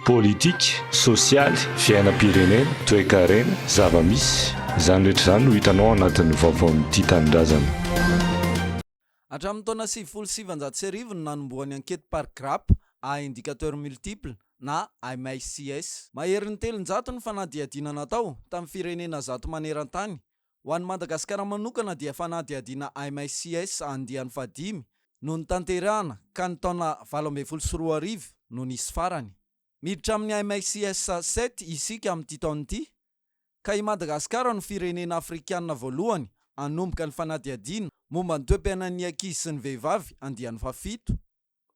Politika, sosialy, fiainam-pirenena, toekarena, zava-misy. Izany rehetra izany no hitanao ao anatin'ny vaovaon'ny Tia Tanindrazana. Hatramin'ny taona sivifolo sy sivinjato sy arivo no nanombohan'ny ankety par grappe à indicateur multiple na MICS. Maherin'ny telonjato ny fanadihadiana natao tamin'ny firenena zato maneran-tany Ho an'i Madagasikara manokana dia fanadihadiana MICS andiany fahadimy no notanterahina ka ny taona valo ambin'ny folo sy roa arivo no nisy farany. Miditra amin'ny MICS sept isika amin'ity taona ity ka i Madagasikara no firenena afrikanina voalohany hanomboka ny fanadihadiana momba ny toe-piainan'ny ankizy sy ny vehivavy andiany fahafito.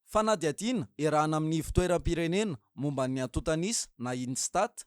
Fanadihadiana iarahana amin'ny Ivo-toeram-pirenena momba ny antontan'isa na INSTAT.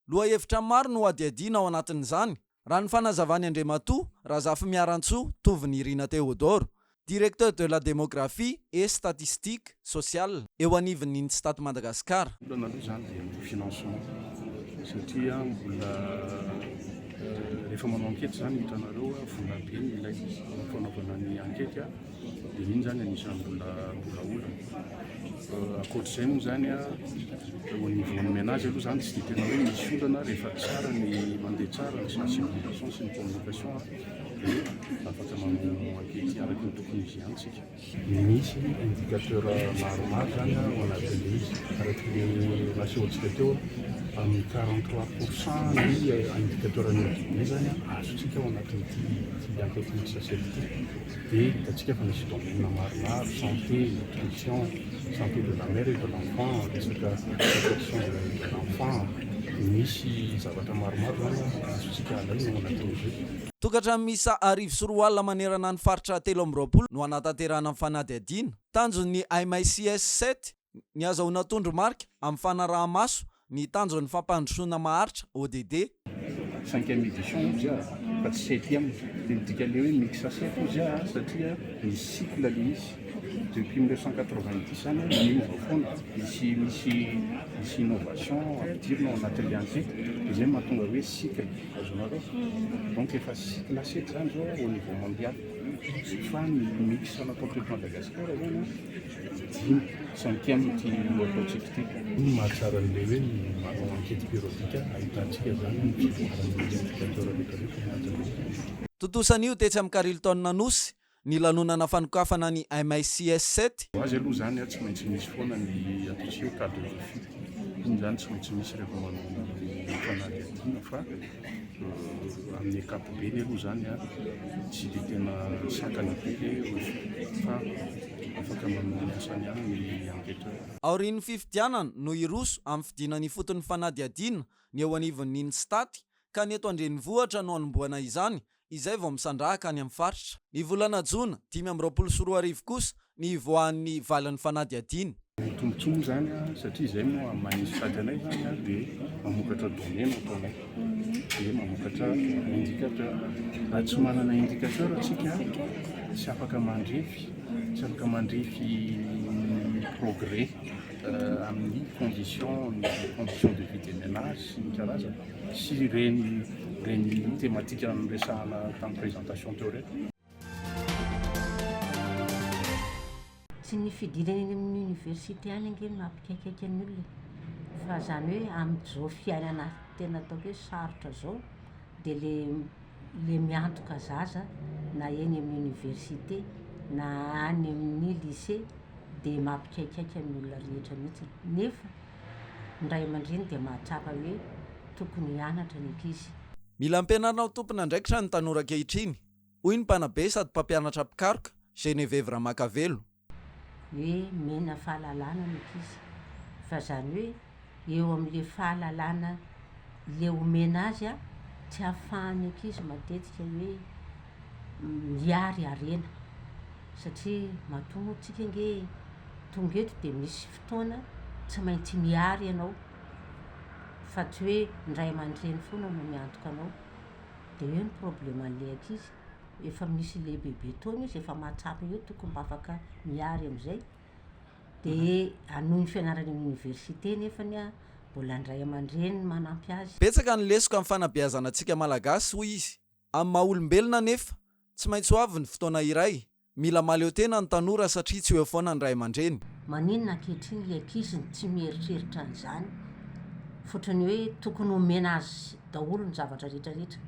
Lohahevitra maro no hadihadiana ao anatin'izany, raha ny fanazavan'i Andriamatoa Razafimearantsoa Tovinirina Théodore, Directeur de la Démographie et Statistique Sociale eo anivon'ny Instat Madagascar. Ny olana aloha izany dia ny financement satria mbola rehefa manao ankety izany hitanareo vola be no ilaina fanaovana ny ankety. Dia iny izany anisan'ny mbola mbola olana. Ankoatr'izay moa izany a, au niveau ny menage aloha izany tsy dia tena hoe misy olana rehefa tsara ny mandeha tsara ny sensibilisation sy ny communication a, dia afaka manao enquete araka ny tokony izy ihany isika. Misy indicateur maromaro izany ao anatin'ilay izy, araka ny nasehontsika teo amin'ny quarante trois pour cent ny indicateur-n'ny audit be izany a, azontsika ao anatin'ity enquete mixed assessment ity. dia hitantsika fa misy domaine maromaro, santé, nutrition, santé de la mère et de l'enfant, resaka protection de de l'enfant, misy zavatra maromaro izany a, azontsika alaina ao anatin'izay. Tokantrano miisa arivo sy roa alina manerana ny faritra telo amby roapolo no hanatanterahana ny fanadihadiana. Tanjon'ny MICS sept Ny azahoana tondromarika amin'ny fanaraha-maso ny tanjon'ny fampandrosoana maharitra, ODD. Cinquième édition hozy aho fa tsy septième, dia ny dikan'ilay hoe mixasept hozy aho satria misy cycle ilay izy, depuis mille neuf cent quatre-vingt-dix any an, miova foana, misy misy misy innovation ampidirina ao anatin'ilay antsety, dia izay no mahatonga hoe cycle, azonareo? Donc efa cycle sept izany izao au niveau mondial, fa ny mix natao teto Madagasikara izany an, Dimy, centième, ity ataontsika ity. Ny mahatsara an'ilay hoe ny manao enquête périodique ahitantsika izany ny fivoaran'ny indicateurs rehetrarehetra ao anatin'ilay. Tontosa anio tetsy amin'ny Carlton Anosy ny lanonana fanokafana ny MICS sept. Ho azy aloha izany tsy maintsy misy foana ny atao hoe cas de refus. Iny izany tsy maintsy misy rehefa manao an'ireny fanadihadiana fa Amin'ny ankapobeny aloha izany tsy dia tena sakana be ilay rojo fa afaka manao ny asany ihany ny ankehitriny. Aorian'ny fifidianana no hiroso amin'ny fidinana ifotony fanadihadiana ny eo anivon'ny Instat ka ny eto an-drenivohitra no hanombohana izany izay vao misandrahaka any amin'ny faritra. Ny volana jona dimy amby roapolo sy roa arivo kosa ny hivoahan'ny valin'ny fanadihadiana. Ny tombontsoa moa izany satria izay no maha mahay ny sokajy anay izany dia mamokatra données no ataonay dia mamokatra indicateur. Raha tsy manana indicateur isika tsy afaka mandrefy tsy afaka mandrefy ny progrès amin'ny condition condition de vie des menages sy ny karazany. sy ireny ireny thématique niresahana tamin'ny présentation teo ireny. Tsy ny fidirana eny amin'ny université any ange no mampikaikaika ny olona e! fa izany hoe amin'izao fiainana tena ataoko hoe sarotra izao dia le le miantoka zaza na eny amin'ny université na any amin'ny lycée dia mampikaikaika ny olona rehetra mihitsy nefa Ny ray aman-dreny dia mahatsapa hoe tokony hianatra ny ankizy. Mila ampianarina ho tompon'andraikitra ny tanora ankehitriny, hoy ny mpanabe sady mpampianatra mpikaroka, Geneviève Ramakavelo. Hoe mena fahalalana ny ankizy, fa izany hoe eo amin'ilay fahalalana ilay omena azy, tsy ahafahan'ny ankizy matetika hoe miary harena, satria matoa moa tsika ange tonga eto dia misy fotoana tsy maintsy miary ianao fa tsy hoe ny ray aman-dreny foana no miantoka anao dia eo ny probleman'ilay ankizy efa misy lehibebe taona izy efa mahatsapa eo tokony mba afaka miary amin'izay dia hanohy ny fianarany amin'ny oniversite nefany an mbola ny ray aman-dreny no manampy azy Betsaka ny lesoka amin'ny fanabeazana antsika Malagasy hoy izy. Amin'ny maha olombelona anefa, tsy maintsy ho avy ny fotoana iray Mila mahaleo tena ny tanora satria tsy ho eo foana ny ray aman-dreny. Maninona ankehitriny ilay ankizy no tsy mieritreritra an'izany fotrany hoe tokony homena azy daholo ny zavatra rehetrarehetra?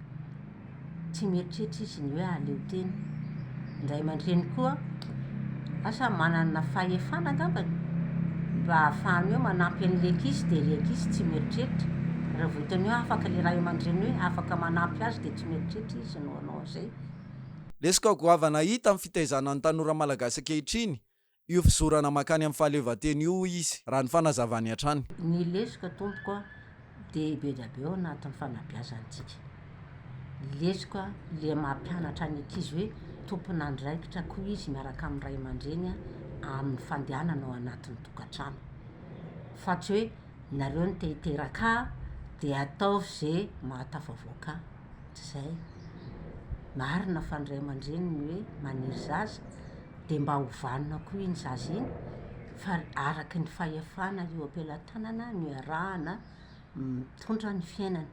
Tsy mieritreritra izy ny hoe ahaleo tena. Ny ray aman-dreny koa asa manana fahefana angambany mba ahafahany hoe manampy an'ilay ankizy dia ilay ankizy tsy mieritreritra. Raha vao hitany hoe afaka ilay ray aman-dreny hoe afaka manampy azy dia tsy mieritreritra izy no hanao an'izay. Lesoka goavana hita amin'ny fitaizana ny tanora malagasy ankehitriny io fizorana mankany amin'ny fahaleovantena io, hoy izy, raha ny fanazavany hatrany. Ny lesoka, tompoko a, dia be dia be ao anatin'ny fanabeazantsika. Ny lesoka ilay mampianatra ny ankizy hoe tompon'andraikitra koa izy miaraka amin'ny ray aman-dreny amin'ny fandehanana ao anatin'ny tokantrano. Fa tsy hoe nareo no te-hiteraka ahy dia ataovy izay mahatafavoaka ahy. ohatr'izay. Marina fa ny ray aman-dreny ny hoe maniry zaza dia mba ho vanona koa iny zaza iny fa araka ny fahefana eo am-pelatanana no iarahana mitondra ny fiainana.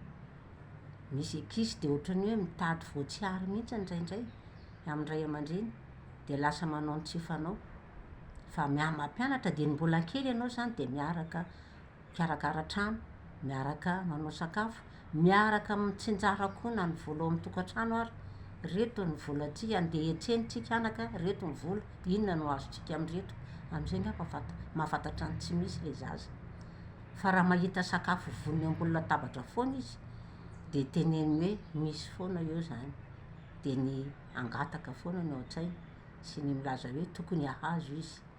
Misy ankizy dia ohatran'ny hoe mitady voatsiary mihitsy indraindray amin'ny ray aman-dreny dia lasa manao ny tsy fanao. Fa miha-mampianatra dia ny mbola kely ianao izany dia miaraka mikarakara trano, miaraka manao sakafo, miaraka mitsinjara koa na ny vola ao amin'ny tokantrano ary, ireto ny volantsika, andeha hiantsena isika anaka, ireto ny vola, inona no azontsika amin'ireto? Amin'izay angamba fanta- mahafantatra ny tsy misy ilay zaza. Fa raha mahita sakafo vonona ambony latabatra foana izy, dia teneniny hoe misy foana eo izany. Dia ny hangataka foana no ao an-tsainy sy ny milaza hoe tokony hahazo izy.